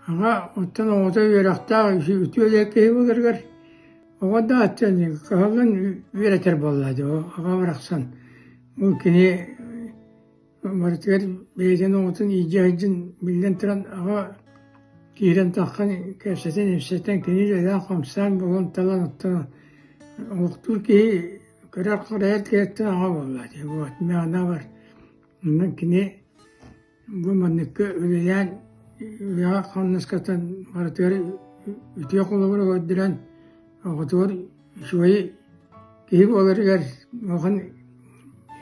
Аҕа оттон оҕото үөрэхтээх киһи үтүө диэн киһи былыргар оҕо да аттыанньыгы кыһаллан үөрэтэр буоллаҕа дии ол аҕа барахсан бу кини барытыгар бэйэтин оҕотун иидьэ сылдьан биллэн туран аҕа киирэн таххан кэпсэтэн-ипсэтэн кини дьайдаах хамсаан буолан талан оттоон олохтуур киһи көрөр-харайар киһиттэн аҕа буоллаҕа дии вот миэнэ бар онон кини Бу манныкка үлэлээн үйэҕэ-хамнаскаттан барытыгар үтүө холобуру көрдөрөн, оҕотугар үчүгэйи киһи буоларыгар улахан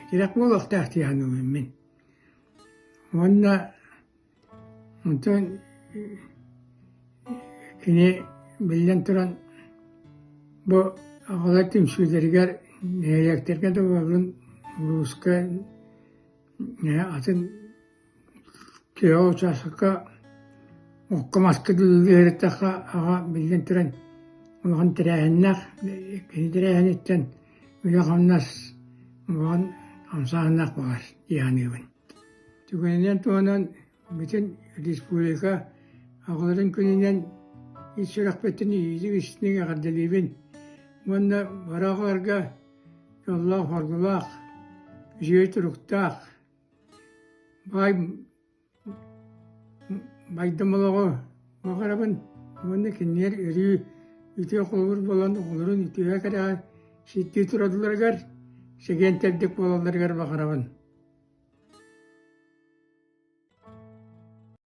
тирэх буолуохтаах дии саныыбын мин. Уонна онтон кини биллэн туран бу аҕалар түмсүүлэригэр нэһилиэктэргэ да буоллун, улууска Ээ, атын киһи ол учаастакка окко-маска дылы үөрэттэххэ, аҕа биллэн туран улахан тэрээһиннээх. Кини тэрээһиниттэн үлэ-хамнас улахан хамсааһыннаах баҕар дии саныыбын. Түгэнинэн туһунан бүтүн республика аҕаларын күнүнэн ис сүрэхпиттэн иитик-истиҥ эҕэрдэлиибин уонна бара аҕаларга дьоллоох хоргулаах үчүгэй туруктаах бай байдам олоҕу Баҕарабын уонна кинилэр өрүү үтүө холобур буолан оҕолорун үтүө кэрэҕэ ситтии турадыларыгар, сэгиэнтэрдик буолалларыгар баҕарабын.